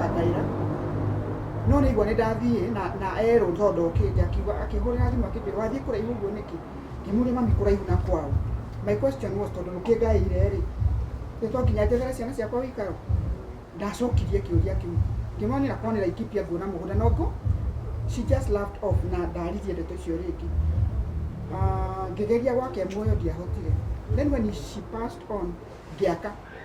Akaira. No nĩigua nĩ ndathiĩ na, na erwo to ndokĩte akiuga akĩhũrĩra thimũ akĩnjĩra wathiĩ kũraihu ũguo nĩkĩ? Ngĩmũria mami kũraihu na kwao. My question was tondũ rũkĩngaĩire rĩ, nĩ twanginya njethere ciana ciakwa ũikaro? Ndacokirie kĩũria kĩu. Ngĩmonera kwao nĩ Laikipia nguona mũgũnda no ngo. She just laughed off na ndaririe ndeto icio rĩngĩ. Ah, ngĩgeria gwake muoyo ndiahotire. Then when she passed on ngĩaka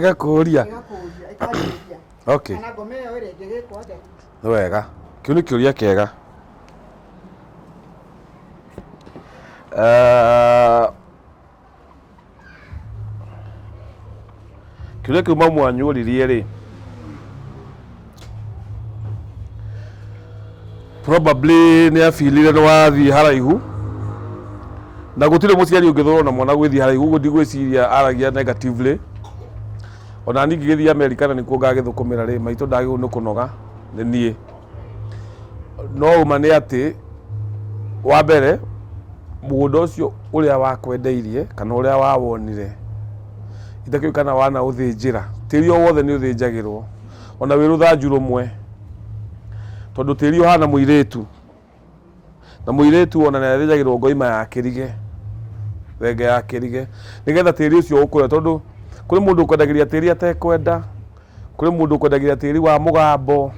ngakũria okay nĩ wega kĩu nĩ kĩũria kĩega Ah, kĩrĩa kĩu mamu wanyũririe rĩ probably nĩ abirire nĩ wathiĩ haraihu na gũtirĩ mũciari ũngĩthorwo na mwana gwĩthiĩ haraihu ũguo ndigwĩciria aragia negatively ona niĩ ngĩgĩthiĩ amerika na nĩkuo ngagĩthũkũmĩra rĩ maitũ ndagĩrĩirwo nĩ kũnoga nĩ niĩ no ũma nĩ atĩ, wa mbere mũgũnda ũcio ũrĩa wakwendeirie kana ũrĩa wawonire, itakĩũĩ kana wanaũthĩnjĩra, tĩri o wothe nĩ ũthĩnjagĩrwo, ona wĩ rũthanju rũmwe, tondũ tĩri ũhana mũirĩtu. na mũirĩtu ona nĩ athĩnjagĩrwo ngoima ya kĩrige thenge ya kĩrige nĩgetha tĩri ũcio ũkũre tondũ kũrĩ mũndũ ũkwendagĩria tĩri atekwenda kũrĩ mũndũ ũkwendagĩria tĩri wa mũgambo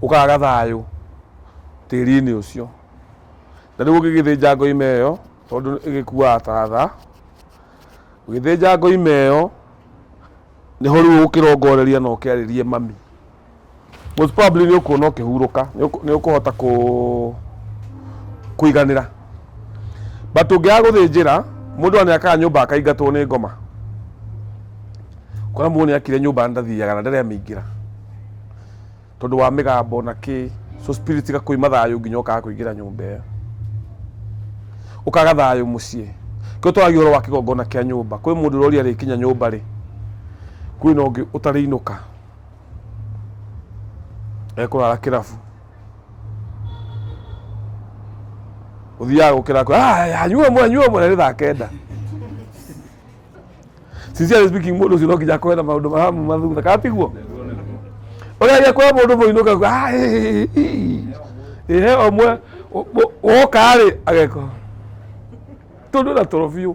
ũkaga thayũ tĩri-inĩ ũcio na rĩu ũngĩgĩthĩnja ngoima ĩyo tondũ ĩgĩkuaga ta tha ũgĩthĩnja ngoima ĩyo nĩho rĩu ũkĩrongoreria na ũkĩarĩrie mami Most probably nĩ ũkuona ũkĩhurũka, nĩ ũkũhota kũiganĩra. But ũngĩaga gũthĩnjĩra, mũndũ ona nĩakaga nyũmba akaingatwo nĩ ngoma. Ũkona mũndũ nĩakire nyũmba na ndathiaga na ndaremĩingĩra. Tondũ wa mĩgambo na kĩ, so spirit igakũima thayũ nginya ũkaga kũingĩra nyũmba ĩyo. Ũkaga thayũ mũciĩ. Nĩkĩo twaragia ũhoro wa kĩgongona kĩa nyũmba. Kwĩ mũndũ ũroria arĩkinya nyũmba-rĩ, kwĩna ũngĩ ũtarĩinũka. ekũrara kĩrabu ũthiaga gũkĩra kwe "Ah, anyua ũmwe anyua ũmwe na nĩ thaa kenda sincerely speaking mũndũ ũcio no nginya akorwo na maũndũ mahamu mathutha kana tiguo ũrĩa agĩkora mũndũ mũinũka kuga, "Ah, ĩ, ĩ, ĩ, ĩ." ehe omwe woka rĩ ageko tondũ na toro biũ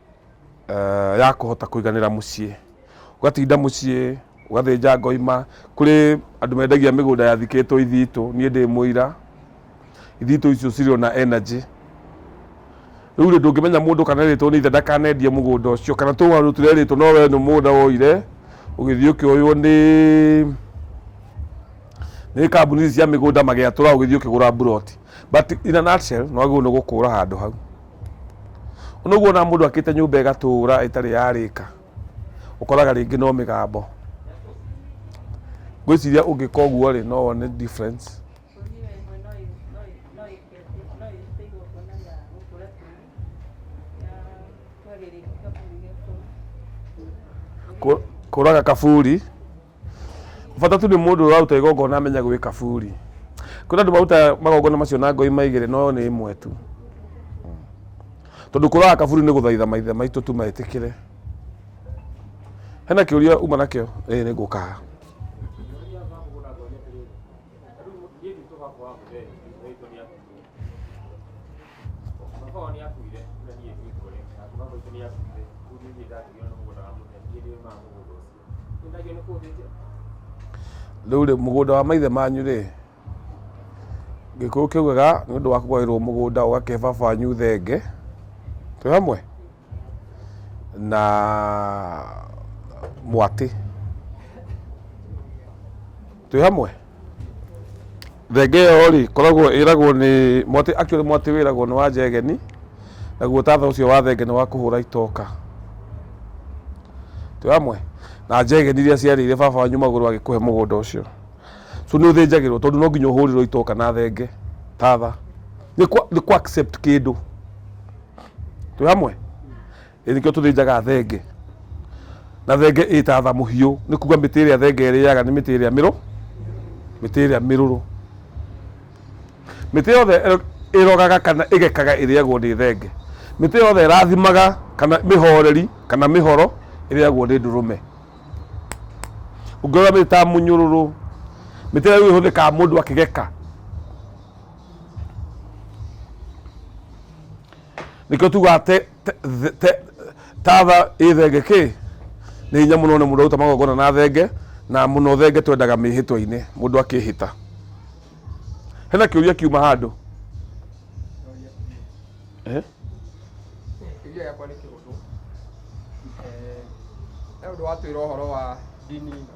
eh, ya kũhota kũiganĩra mũciĩ ũgatinda mũciĩ ũgathĩnja ngoima kũrĩ andũ mendagia mĩgũnda yathikĩtwo ithitũ niĩ ndĩ mũira ithitũ icio cirĩ na energy rĩu rĩ ndũngĩmenya mũndũ kana erĩtwo nĩ ithe ndakanendie mũgũnda ũcio kana tũ andũ tũrerĩtwo no wee nĩ mũgũnda woire ũgĩthiĩ ũkĩoywo nĩ nĩ kambuni ici cia mĩgũnda magĩatũra ũgĩthiĩ ũkĩgũra mburoti but in a nutshell nĩ wagĩrĩirwo nĩ gũkũra handũ hau Ona ũguo ona mũndũ akĩte nyũmba ĩgatũũra ĩtarĩ yarĩka ũkoraga rĩngĩ no mĩgambo. Ngwĩciria ũngĩka ũguo rĩ no wone difference. Kũraga kaburi. bata tu nĩ mũndũ ũraruta igongona amenya gwĩ kaburi kwĩna andũ marutaga magongona macio na ngoi maigĩrĩ no nĩ ĩmwe tu tondũ kũraga kaburi nĩ gũthaitha maithe maitũ tu metĩkĩre hena kĩũria uma nakĩo ĩĩ nĩ ngũkaga Rĩu rĩ, mũgũnda wa maithe manyu rĩ, gĩkũyũ kĩugaga nĩ ũndũ wa kũgaĩrwo mũgũnda ũgakĩhe baba wanyu thenge, twĩ hamwe? Na mwatĩ, twĩ hamwe? Thenge ĩyo rĩ, koragwo ĩragwo nĩ mwatĩ, actually mwatĩ wĩragwo nĩ wa njegeni, naguo tatha ũcio wa thenge nĩ wa kũhũra itoka. Twĩ hamwe? Na njegeni iria ciarĩire baba wanyu magũrũ agĩkũhe mũgũnda ũcio. So nĩ ũthĩnjagĩrwo tondũ no nginya ũhũrĩrwo itoka na thenge, tatha. Nĩ kũ, nĩ kũ accept kĩndũ. Twĩ hamwe? Ĩ nĩkĩo tũthĩnjaga thenge na thenge ĩ ta tha mũhiũ nĩ kuga mĩtĩ ĩrĩa thenge ĩrĩaga nĩ mĩtĩ ĩrĩa mĩrũ mĩtĩ ĩrĩa mĩrũrũ mĩtĩ yothe ĩro- ĩrogaga kana ĩgekaga ĩrĩagwo nĩ thenge mĩtĩ yothe ĩrathimaga kana mĩhoreri kana mĩhoro ĩrĩagwo nĩ ndũrũme ũngĩrora mĩtĩ ta mũnyũrũrũ mĩtĩ ĩrĩa rĩu ĩhũthĩkaga mũndũ akĩgeka nĩkĩo tugaga te- te- the- te- tatha ĩ thenge kä nä hinya må no nä må ndå aruta magongona na thenge na må no thenge twendaga mä hä twa-inä må ndå akä hä ta hena kä å ria kiuma handå Eh? Kĩũria gĩakwa nĩ kĩhũthũ. Eh, He ũndũ watwĩra ũhoro wa ndini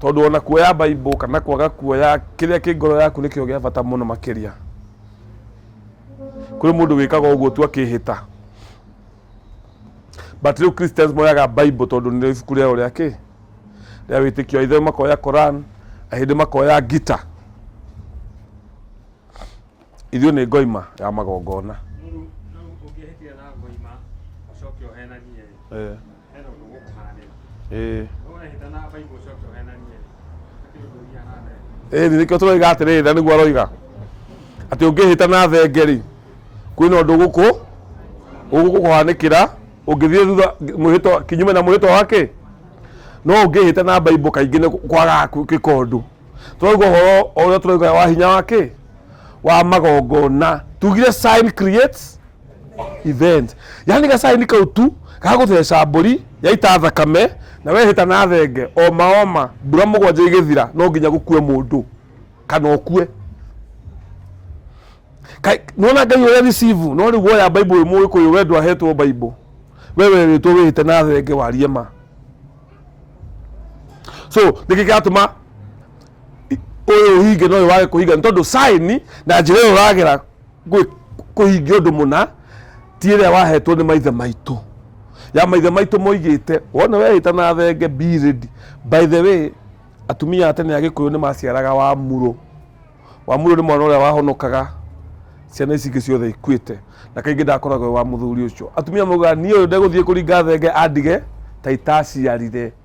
Tondũ ona kuoya Bible kana kwaga kuoya kĩrĩa kĩ ngoro yaku nĩkĩo gĩa bata mũno makĩria. Kũrĩ mũndũ wĩkaga ũguo tu akĩhĩta. But rĩu Christians moyaga Bible tondũ nĩ ibuku rĩao rĩa kĩ? Rĩa wĩtĩkio. Aithĩramu makoya Quran, ahĩndĩ makoya Gita. Ithuĩ nĩ ngoima ya magongona. Mũru, rĩu ũngĩhĩtia na ngoima, ũcoke ũhenanie rĩ, Eh, hena ũndũ ũgũkũhanĩra. eh. No wehĩta na baibũ ũcoke ũhenanie rĩ, hatirĩ ũndũ ũthiaga na mbere. Ĩĩ nĩ nĩkĩo tũroiga atĩrĩrĩ na nĩguo aroiga atĩ ũngĩhĩta na thenge rĩ kwĩna ũndũ gũkũ ũgũkũhanĩkĩra ũngĩthiĩ thutha mwĩhĩtwa kinyume na mwĩhĩtwa wake no ũngĩhĩta na baibũ kaingĩ nĩ kwaga gwĩka ũndũ tũrauga ũhoro ũrĩa tũrauga wa hinya wake wa magongona tugire sign creates event yani gacaini kau tu gagũtheca mbũri yaita thakame na wehĩta na thenge oma oma mbura mũgwanja igĩthira no nginya gũkue mũndũ kana ũkue Kai- nona ngai ũrĩa receive no rĩu woya bible ĩmwe ũkũyũ we ndwahetwo bible we werĩtwo wĩhĩte na thenge warie ma so nĩkĩ kĩratũma ũyũ hinge no ũyũ wage kũhinga nĩ tondũ saini na njĩra ĩyo ũragera gwĩ- kũhingia ũndũ mũna ti ĩrĩa wahetwo nĩ maithe maitũ ya maithe maitũ moigĩte wona wehĩta na thenge be ready by the way atumia a tene a gĩkũyũ nĩ maciaraga wamuro wamuro nĩ mwana ũrĩa wahonokaga ciana ici ingĩ ciothe ikuĩte na kaingĩ ndakoragwo wa mũthuri ũcio atumia maugaga niĩ ũyũ ndegũthiĩ kũringa thenge andige ta itaciarire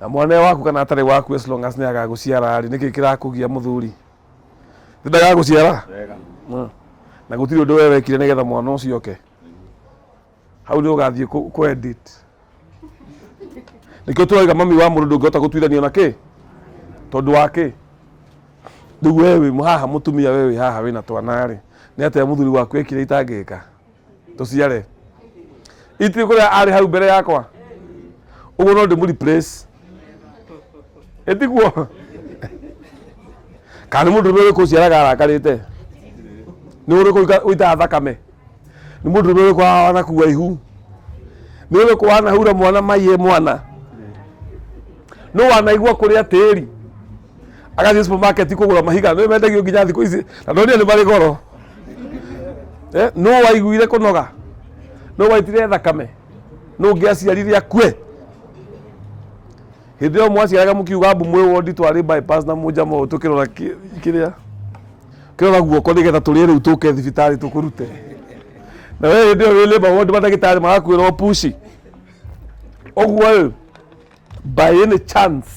na mwana ũyũ waku kana atarĩ waku as long as nĩ agagũciara rĩ nĩkĩ kĩrakũgia mũthuri nĩ ndagagũciara wega Mm. na gũtirĩ ũndũ we wekire nĩgetha mwana ũcio oke hau nĩ ũgathiĩ kũ- kũ edit nĩkĩo tũraiga mami wa mũndũ ndũngĩhota gũtuithania na kĩ tondũ wa kĩ rĩu we wĩ haha mũtumia we wĩ haha wĩna twana rĩ nĩ atĩa mũthuri waku ekire itangĩka tũciare itiri kũrĩa arĩ hau mbere yakwa ũguo no ndĩmũ replace ĩtiguo kana nĩ mũndũ ũrĩa ũrĩkũ ũciaraga arakarĩte nĩ ũrĩkũ ũika- ũitaga thakame nĩ mũndũ ũrĩa ũrĩkũ haha wanakua ihu nĩ ũrĩkũ wanahura mwana maiye mwana nĩ wanaigua kũrĩa tĩri agathiĩ supermarket kũgũra mahiga nĩ mendagio nginya thikũ ici na ndonire nĩ marĩ goro eh, nũ waiguire kũnoga nũ waitire thakame nũ ngĩaciarire akue hĩndĩ ĩyo mwaciaraga mũkiuga mbu mwĩ wondi twarĩ bypass na mũnjama ũyũ tũkĩrora kĩ- kĩrĩa kĩrora guoko nĩgetha tũrĩe rĩu tũke thibitarĩ tũkũrute na we hĩndĩ ĩyo wĩ labour ward mandagĩtarĩ magakwĩrwo pushi ũguo rĩ by any chance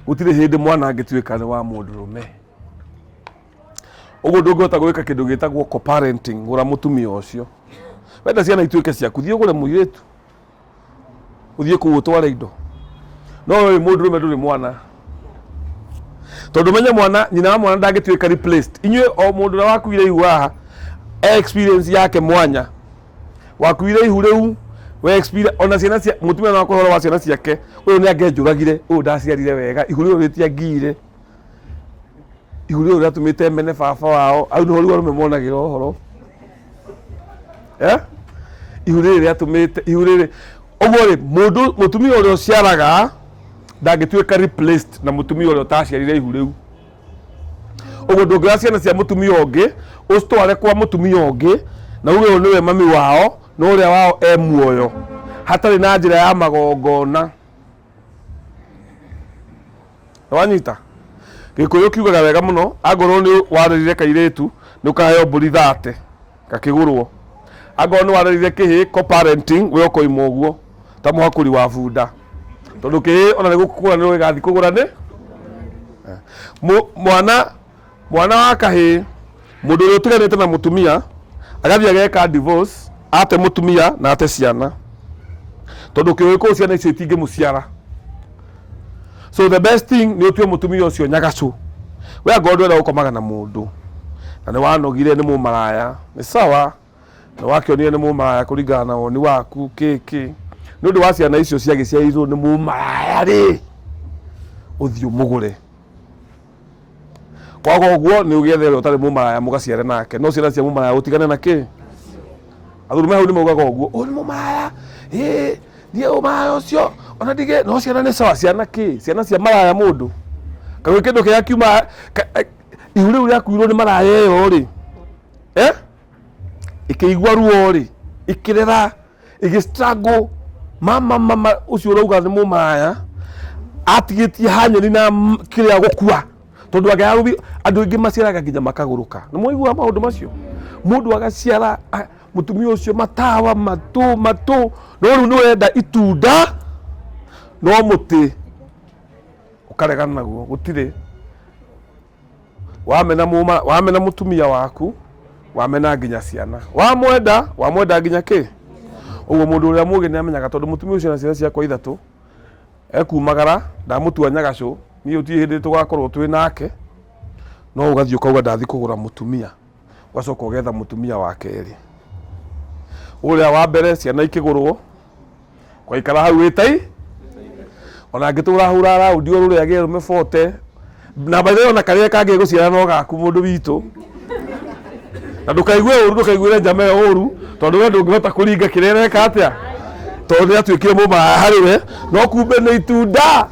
gũtirĩ hĩndĩ mwana angĩtuĩka nĩ wa mũndũ rũme ũguo ndũngĩhota gwĩka kĩndũ gĩtagwo co-parenting gũra mũtumia ũcio wenda ciana ituĩke ciaku thiĩ ũgũre mũirĩtu ũthiĩ kũu ũtware indo no ũyũ mũndũ rũme ndũrĩ mwana tondũ menye mwana nyina wa mwana ndangĩtuĩka replaced inyuĩ o mũndũ ũrĩa wakuire ihu haha e experience yake mwanya wakuire ihu rĩu we experience ona ciana cia mũtumia no akũhe ũhoro wa ciana ciake ũyũ nĩ angĩanjũragire ũyũ ndaciarire wega ihu rĩu rĩtiangiire ihu rĩu rĩatũmĩte mene baba wao hau nĩho rĩu arũme monagĩra ũhoro Eh? ihu rĩrĩ rĩatũmĩte ihu rĩrĩ ũguo rĩ mũndũ mũtumia ũrĩa ũciaraga ndangĩtuĩka replaced na mũtumia ũrĩa ũtaciarire ihu rĩu ũguo ndũngĩoya ciana cia mũtumia ũngĩ ũcitware kwa mũtumia ũngĩ na uge ũyũ nĩwe mami wao na ũrĩa wao e muoyo hatarĩ na njĩra ya magongona wanyita gikuyu kiugaga wega muno angorwo ni warerire kairitu ni ukaheo mburi thate gakigurwo angorwo ni warerire kihi ko parenting we ukoimwo guo ta muhakuri wa bunda tondu kihi ona ni gukugura ni gigathi kugura ni mwana mwana wa kahĩĩ mũndũ ũrĩa ũtiganĩte na mũtumia agathiĩ ageka divorce ate mũtumia na ate ciana tondũ kĩũĩ kũu ciana icio itingĩmũciara so the best thing nĩ ũtue mũtumia ũcio nyagacũ we angorwo ndwenda gũkomaga na mũndũ na nĩ wanogire nĩ mũmaraya nĩ sawa nĩ wakĩonire nĩ mũmaraya kũringana na woni waku kĩkĩ nĩ ũndũ wa ciana icio ciagĩciarirwo nĩ mũmaraya rĩ ũthiĩ ũmũgũre kwaga ũguo nĩ ũgĩethe ũrĩa ũtarĩ mũmaraya mũgaciare nake no ciana cia mũmaraya ũtigane na kĩ athuri me hau nĩ maugaga ũguo ũyũ nĩ mũmaraya ĩ niĩ ũmaraya ũcio ona ndigĩ no ciana nĩ sawa ciana kĩ ciana cia maraya mũndũ kana kĩndũ kĩrĩa kiuma ka- eh, ihu rĩu rĩakuirwo nĩ maraya ĩyo rĩ eh? ikĩigua ruo rĩ ikĩrera igi struggle mama mama ucio urauga ni mumaya atigitie hanyoni na m- kiria gukua tondu angiaga guthi andu aingi maciaraga nginya makaguruka ni muigua maundu macio mundu agaciara a- mutumia ucio matawa matu matu no riu ni wenda itunda no muti ukaregana naguo gutire wamena mũma wamena mũtumia waku wamena nginya ciana wamwenda wamwenda nginya kĩ ũguo mũndũ ũrĩa mũgĩ nĩ amenyaga tondũ mũtumia ũcio na ciana ciakwa ithatũ ekumagara ndamũtua nyagacũ niĩ ũtiĩ hĩndĩ tũgakorwo twĩ nake no ũgathiĩ ũkauga ndathiĩ kũgũra mũtumia ũgacoka ũgetha mũtumia wa kerĩ ũrĩa wa mbere ciana ikĩgũrwo kwaikara hau wĩtai ona angĩtũra hura raundi o rũrĩa agĩe rũme bote na by the way ona karĩa kangĩ gũciara no gaku mũndũ witũ na ndũkaigue ũru ndũkaiguĩre njama ĩyo ũru tondũ we ndũngĩhota kũringa kĩrĩa ĩreka atĩa tondũ nĩ atuĩkire mũmaya harĩ we no kumbe nĩ itunda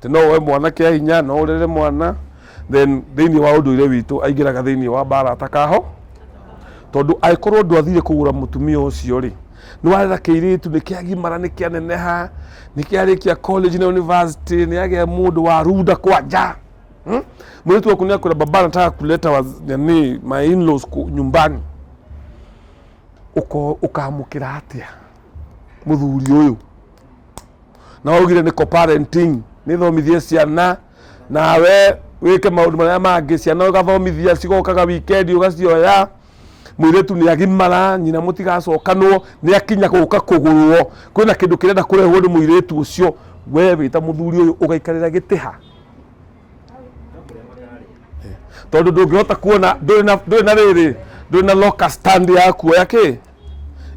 atĩ no woe mwana kĩa hinya no ũrere mwana then thĩinĩ wa ũndũire witũ aingĩraga thĩinĩ wa mbara atakaho tondũ angĩkorwo ũndũ athire kũgũra mũtumia ũcio rĩ nĩ warera kĩirĩtu nĩ kĩagimara nĩ kĩaneneha nĩ kĩarĩkia college na university nĩ agĩa mũndũ wa runda kwanja hmm? mũirĩtu waku nĩ akwĩra baba nataka kuleta waz- nani my in-laws ku- nyumbani Ũko- ũkamũkĩra atĩa mũthuri ũyũ na waugire nĩ co-parenting nĩ thomithie ciana nawe wĩke maũndũ marĩa mangĩ ciana ũgathomithia cigokaga wikendi ũgacioya mwĩrĩtu nĩ agimara nyina mũtigacokanwo nĩ akinya gũka kũgũrwo kwĩna kĩndũ kĩrenda kũrehwo nĩ mwĩrĩtu ũcio we wĩta mũthuri ũyũ ũgaikarĩra gĩtĩ ha tondũ ndũngĩhota kuona ndũrĩ na- ndũrĩ na rĩrĩ ndũrĩ na loka stand ya kuoya kĩ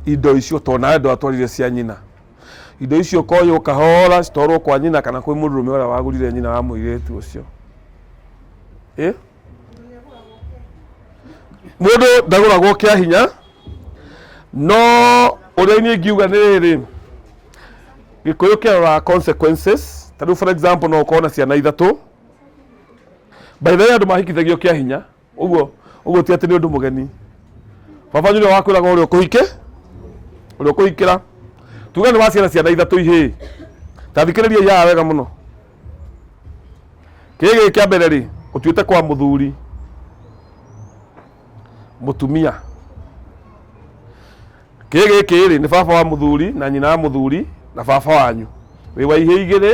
indo icio tondũ nawe ndwatwarire cia nyina Indo icio ũkoywo kahora citwarwo kwa nyina kana kwĩ mũndũrũme ũrĩa wagũrire nyina wa mũirĩtu ũcio. Ĩ? Mũndũ ndagũragwo kĩa hinya, no ũrĩa niĩ ngiuga nĩ rĩrĩ, gĩkũyũ kĩroraga consequences. Ta rĩu for example no ũkorwo na ciana ithatũ, by the way andũ mahikithagio kĩa hinya, ũguo ũguo ti atĩ nĩ ũndũ mũgeni baba nyũrĩa wakwĩraga ũrĩa ũkũhike ũrĩa ũkũhikĩra tuga nĩ waciara ciana ithatũ ihĩ ta thikĩrĩria yaya wega mũno kĩrĩ gĩkĩ kĩa mbere rĩ ũtuĩte kwa mũthuri mũtumia kĩrĩ gĩkĩ rĩ nĩ baba wa mũthuri na nyina wa mũthuri na baba wanyu wĩ wa ihĩ igĩrĩ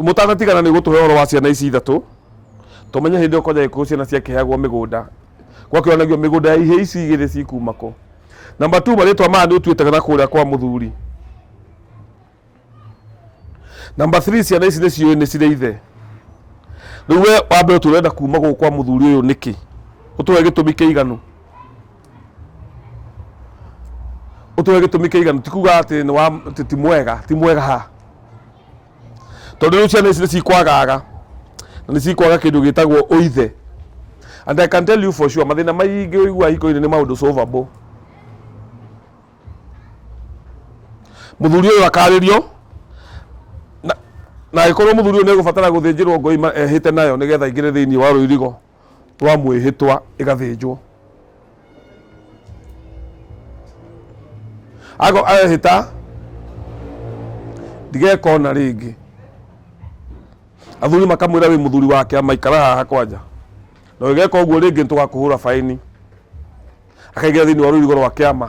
mũtanatigana nĩ gũtũhe ũhoro wa ciana ici ithatũ tũmenye hĩndĩ ĩyo kwanja gĩkũyũ ciana ciakĩheagwo mĩgũnda gwakĩonagio mĩgũnda ya ihĩĩ ici igĩrĩ cikuma kũ namba tu marĩtwa maya nĩ ũtuĩte na kũrĩa kwa mũthuri namba three ciana ici nĩ ciũĩ nĩ cirĩ ithe rĩu we wambe ũtũrenda kuma gũkũ kwa mũthuri ũyũ nĩkĩ ũtũhe gĩtũmi kĩiganu ũtũhe gĩtũmi kĩiganu ti kuga atĩ nĩ wa atĩ ti mwega ti mwega ha tondũ rĩu ciana ici nĩ cikwagaga na nĩ cikwaga kĩndũ gĩtagwo ũithe and I can tell you for sure mathĩna maingĩ ũigua hiko-inĩ nĩ maũndũ solvable mũthuri ũyũ akarĩrio na- na agĩkorwo mũthuri ũyũ nĩ egũbatara gũthĩnjĩrwo ngoi ma- ehĩte nayo nĩgetha aingĩre thĩinĩ wa rũirigo rwa mwĩhĩtwa ĩgathĩnjwo ago ahĩta ndigeka ona rĩngĩ athuri makamwĩra wĩ mũthuri wake amaikara haha kwanja na ũgeka ũguo rĩngĩ nĩtũgakũhũra baini akaigĩra thĩinĩ wa rũirigo rwa kĩama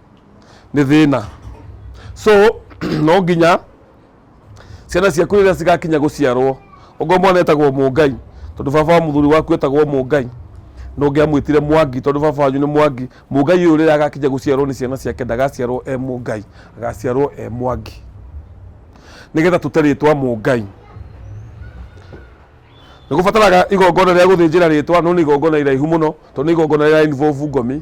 nĩ thĩna so no nginya ciana ciaku rĩrĩa cigakinya gũciarwo ũngorwo mwana etagwo mũngai tondũ baba wa mũthuri waku etagwo mũngai na ũngĩ amwĩtire mwangi tondũ baba wanyu nĩ mwangi mũngai ũyũ rĩrĩa agakinya gũciarwo nĩ ciana ciake ndagaciarwo e mũngai agaciarwo e mwangi nĩgetha tũte rĩtwa mũngai nĩ gũbataraga igongona rĩa gũthĩnjĩra rĩtwa no nĩ igongona iraihu mũno tondũ nĩ igongona rĩa involve ngomi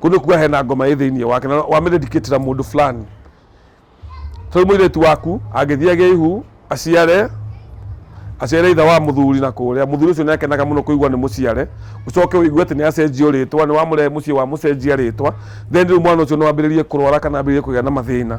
kundu kuga hena ngoma ĩ thĩinĩ wake na wamĩdedicatira mũndũ fulani tondũ mũirĩtu waku angĩthiĩ agĩe ihu aciare aciare itha wa mũthuri na kũrĩa mũthuri ũcio nĩakenaga mũno kũigua nĩ mũciare ũcoke ũigue atĩ nĩacenjio rĩtwa nĩ wamũrehe mũciĩ wa mũcenjia rĩtwa then rĩu mwana ũcio no ambĩrĩrie kũrwara kana ambĩrĩrie kũgĩa na mathĩna